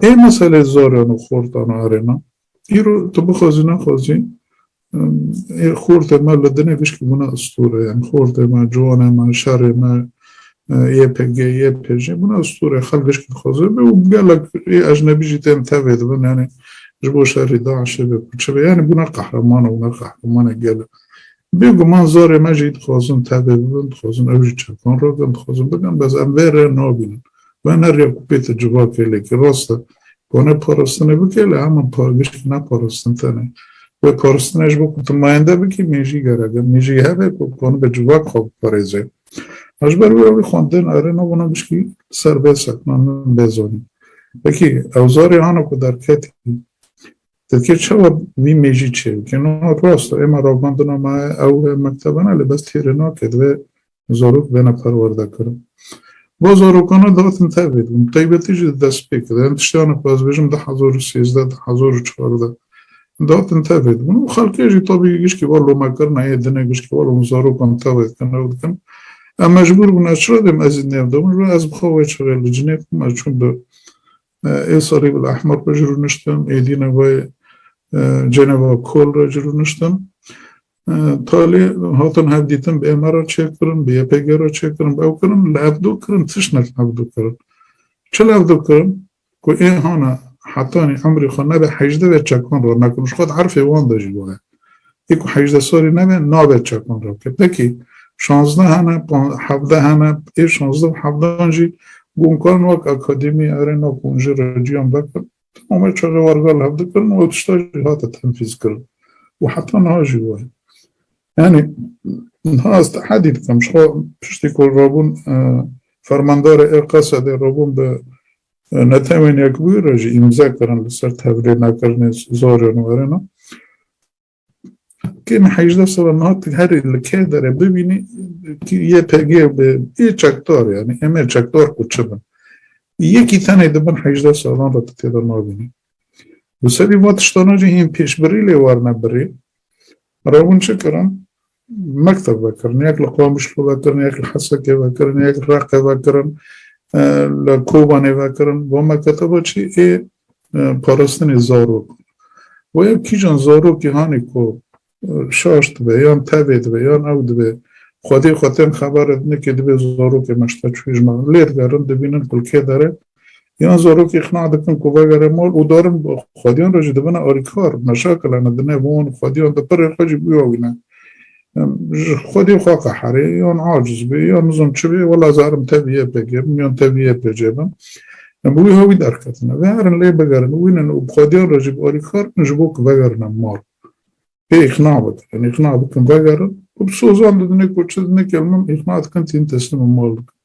Ê meselê zaran û xortan arêna. Îro tu bixwazî nexwazî ê xortê me li dinê vişkî bûne istore. Yan xortê me, ciwanê me, şerê me, YPG, YPJ bûne istore. Xelk vişkî dixwaze be û gelek ê ecnebî jî tên tevê dibin yanî ji bo şerê DAIŞ'ê be ku çi be. Yanî bûne qehreman û bûne qehremanê gel e. Bêguman zarê me jî dixwazin tevê bibin, dixwazin ew jî çekan rakin, dixwazin bikin, bes em vê rê nabînin. Wener ya ku pê te civakê lêkî. Rast e, wane parastinê bikê lê heman giştî ne parastin tenê. Wê parastinê ji bo ku tu mayende bikî mêjî gerek e. Mêjî hebe ku banibe civak xwe biparêze. Ji ber wê wî xwendin erê nabûna giştî li ser vê sekna min bê zanîn. Wekî ew zarê ana ku derketî Tirkî çawa vî mêjî çêbike? No rast e, êma ravandina me ew e mektebena lê bes têrê nake divê zarok bêne perwerde kirin. Bo zarokana datin tevê dibin, taybetî jî di destpêkê de, em tişteyane ku ez bêjim du hezar û sêzdeh, du hezar û çardeh datin tevê dibin û xelkê jî tabî gişkî va lomekirina yê dinê gişkî va lom zarokan tevê dikin ew dikin. Em mecbûr bûn ez çira dêm ezî nêvdibin, ji ber ez bi xwe wê çixê li cinê xwe me çûm bi Ê serî bila ehmer re cirûniştim, êdî ne wê Ceneva Kohl re cirûniştim. Talê hatin hevdîtin bi ême re çêkirin, bi YPG re çêkirin, bi ew kirin, li evdo kirin, tişnek evdo kirin. Çi li evdo kirin? Ku ê hana hetanî emrê xwe nebe hejdeh vê çekan re nakin û ji xwe di erfê wan de jî waye. Yê ku hejdeh salî nebe nabe çekan rakir. Pekî şazdeh hene, hevdeh hene, ê şazdeh û hevdehan jî gon karin wek akademî erê nav konjê re ciyan vekin. Tomamê çar re wargal hev dikirin û ew tişta jî hate tenfîzkirin û heta niha jî wa ye. Yanî niha ez tehedî dikim ji xwe piştî ku rabûn fermandarê ê Qesedê rabûn bi Ne temenîya ku bûye re jî îmze kirin li ser tevlê nekirinê zorên were ne. Kêm hejdeh sala niha tu herî li kê derê bibînî YPG bi ê çekdar yanî em ê çekdar ku çi bin. Yekî tenê di bin hejdeh salan re tu tê de nabînî. Li serî van tiştana jî hîn pêşbirî lê werne birî. Rewin çi kirin? mekteb vekirin, yek li Qamişlo vekirin, yek li Hesekê vekirin, yek li Reqê vekirin, li Kobanê vekirin. Van meketeba çî ê parastinê zarok. Wê kîjan zarokî hanê ku şaş dibe yan tevê dibe yan ew dibe xwedê xwe tên xeber dine kê dibe zarokê meşteçûyê ji me lê digerin dibînin ku li kê dere Yan zarokê îqna dikin ku vegere mal û darin xwediyan re jî dibine alîkar, meşakilane di nêv wan û xwediyan de pirê xwe jî bûya wî ne. Ji xwedî xwe qeherê yan aciz bê yan nizam çi bê wela zarim tevî YPG bim yan tevî YPC bim. Bi wî hewî derketine. Veherin lê bigerin wînin û bi xwediyan re jî bi alîkar bin ji bo ku vegerine mal. Pê îqna bikin. Îqna bikin vegerin û bi sozan didinê ku çi didinê kel min îqna dikin tîn teslîma mal dikin.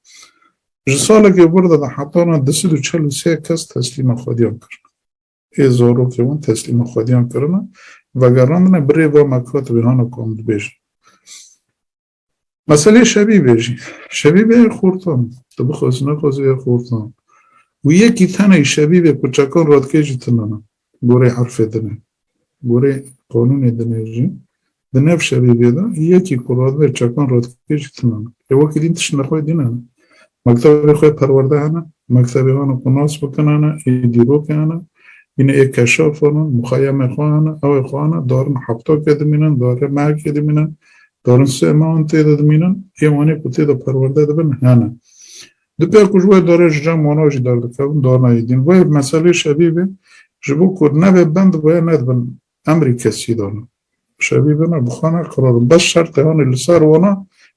Ji salekê vir de di hetana du sed û çel û sê kes teslîma xwediyan kirine. Ê zarokê wan teslîma xwediyan kirine, vegerandine bi rê va me katibê hana ku em dibêjin. Meselê şebîbê jî. Şebîbê ye xortan. Tu bixwazî nexwazî ye xortan. Û yekî tenê şebîbê ku çekan radikê jî tune ne. Goreyê erfê din e. Goreyê qanûnê din e jî. Di nav şebîbê de yekî ku radibe çekan radikê jî tune ne. Lê wekî din tişt nexwedîne ne. Mektebê xwe perwerde hene, mektebê wan ku nas bikin hene, ê dîrokê hene, hîn ê keşaf hene, muxeyemê xwe hene, ewê xwe hene, darin hefta ke dimînin, darê mehekê dimînin, darin sê mehan tê de dimînin, ê wanê ku tê de perwerde dibin hene. Dipêr ku ji wê darê ji cem wana jî derdikevin, darina êdîn. Wê meselê şevî bê, ji bo ku nebe bend wê nedibin Emrî kesî dana. Şevî vena bi xwe ne qirarin. Bes şert e hanê li ser wana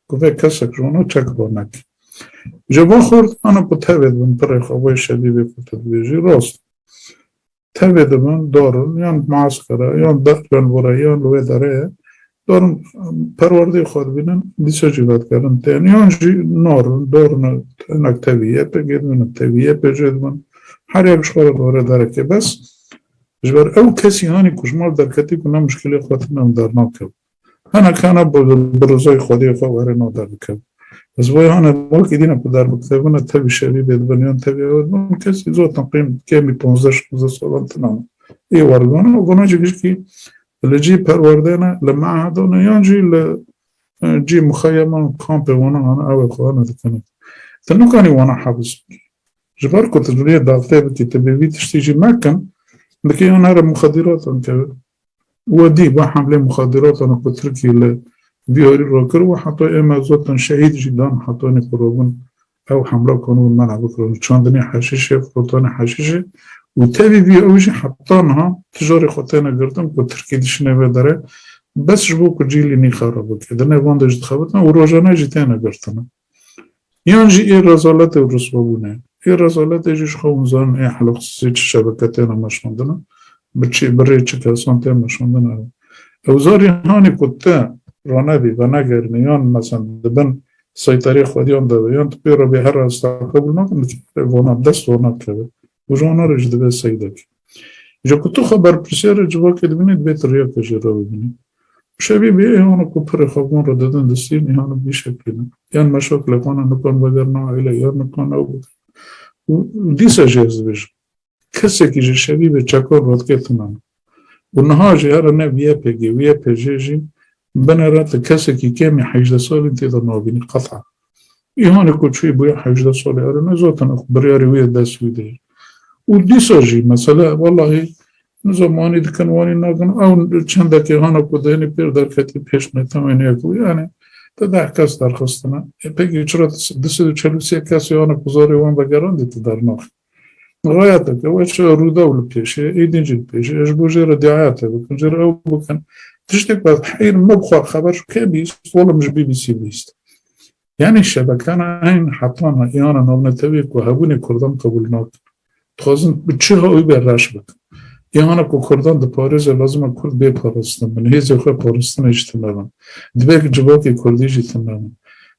ku vê kesek ji wana çek ba neke. Ji va xwe dixwene ku tevê dibin pirê xwe wê şevî vê ku tu dibêjî rast e. Tevê dibin darin yan bi maskara yan ber yan were yan li wê derê ye Dorn perwerdeyê xwe dibînin, dîsa jî vedkerin tên yan jî nar in, dorn in, hinek tevî yê pê gê dibînin, tevî yê pê jê dibin, herêk ji xwe re dore derekê. Bes ji ber ew kesî hanî ku ji mal derketî ku ne muşkilê xwe tune em dernakevin. Hinek hene bi rûzayê xwediyê xwe werê na derdikevin. Bes bo hene wekî dîn e ku derbikevine tevî şevî bê dibin yan tevî ewe dibin kesî zor teqrîben kemî ponzdeh şonzdeh salan tune ê weribîne û vana jî gişkî Li cî perwerdeyê ne, li me'hede ne yan jî li cî muxeyeman û kampê wana hane ew ê xwe ne dikine. Tu nikanî wana hebs bikî. Ji ber ku tu divê daxtê bikî tu bê vî tiştî jî nekin, dikê yan here muxedîratan keve. We dît vê hemlê muxedîratan ku Tirkiyê li Bîharî re kir û heta ême zotan şehîd jî dan hetanî ku robin Ew hemla kon û mena bikirin û çandinê heşîşê, firotanê heşîşê û tevî vî ew jî heta niha ti carê xwe têne girtin ku Tirkî dişîne vê derê bes ji bo ku cîlî nîxa re bike. Di nêvan de jî dixebitin û rojane jî têne girtin. Yan jî ê rezaletê û riswabûnê. Ê rezaletê jî ji xwe hûn zanin ê hela xisisê çi şebeke têne meşandin, bi çi, bi rê çi kesan tê meşandin ew. Ew zarî hanê ku ti ranevî, venegerinî yan mezin di bin Seytarê xwediyan dabe yan tu pê re bê herra ez ta qebûl nakim li çavê vana dest wan nakeve û ji wana re jî dibe seydek. Ji ku tu xwe berpirsiyar e civakê dibînî dibê tu riya te jê re bibînî. Pişevî bê êhana ku pirê xwe van re didin distîn êhana bi vî şeklê ne. Yan meşa kilekana nikan vegerna aîle yan nikan ew bikin û dîsa jî ez dibêjim. Kesekî ji şerî bi çeko rotketinam û niha jî here ne YPG û YPJ jî bine re ti kesekî kêm ê hejdeh salîn tê de nabînî qeta. Îhanê ku çûyî bûye hejdeh salî erê nezatin ew biryarê wî ya dest wî de ye. Û dîsa jî mesele wellahî nizam wanî dikin wanî nakin ew çendek îhana ku di hinî pêr derketî pêş ne tewên yek bû yanî ti deh kes derxistine. YPG çira ti di sed û çel û sê kes îhana ku zarê wan vegerandî ti dernaxî. Rayet eke weş rûdaw li pêşê, êdîn jî li pêşê ji bo jê re diayetê bikin, jê re ew bikin. Tiştê ku ez heyr me bi xwe re xeber ji kê bîst, olim ji BBC bîst. Yanî şebekena eyn hetana îyana navnetewî ku hebûnê kurdan qebûl nakin. Dixwazin bi çi hawî be reş bikin. Îyana ku kurdan diparêze lazim e kurd bê parastin bin, hêzê xwe paristinê ji tune bin. Dibe ku civakê kurdî jî tune bin.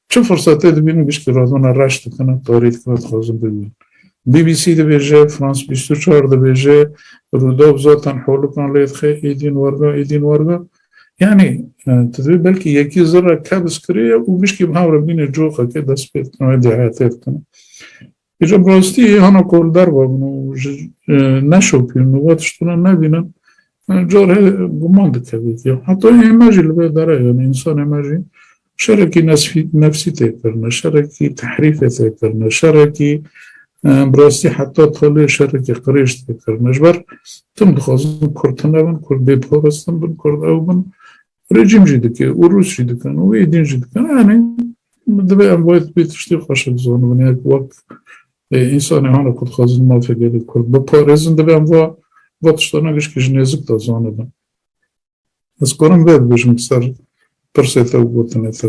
Çi firsetê dibînin giştî radona reş dikin û karê dikin ku dixwazin bibînin. BBC dibêje, France bîst û çar dibêje, Rûdaw zaten holikan lê dixe êdîn werga êdîn werga. Yanî tu dibê belkî yekî zirre kebs kirêye û giştî bi hev re bîne coxekê dest pê dikin û edîayetê dikin. Îro bi rastî hana ku li derve bûn û ji neşopîn û vê tiştine nebînin carê guman dikevî ki heta ême jî li vê dere yanî însan ême jî şerekî nefsî tê kirine, şerekî tehrîfê tê kirine, şerekî bi rastî heta talê şerekî qirêj tê kirine. Ji ber tim dixwazin Kurd tune bin, Kurd bêparastin bin, Kurd ew bin Rejîm jî dike û Rûs jî dikin û wê din jî dikin yanî divê em wê wê tiştê xweş bizanibin ya ku wek însanê hana ku dixwazin mafê gelê Kurd biparêzin divê em va va tiştana gişkî ji nêzik de zanibin. Ez karim vê bibêjim li ser pirsê te û gotinê te.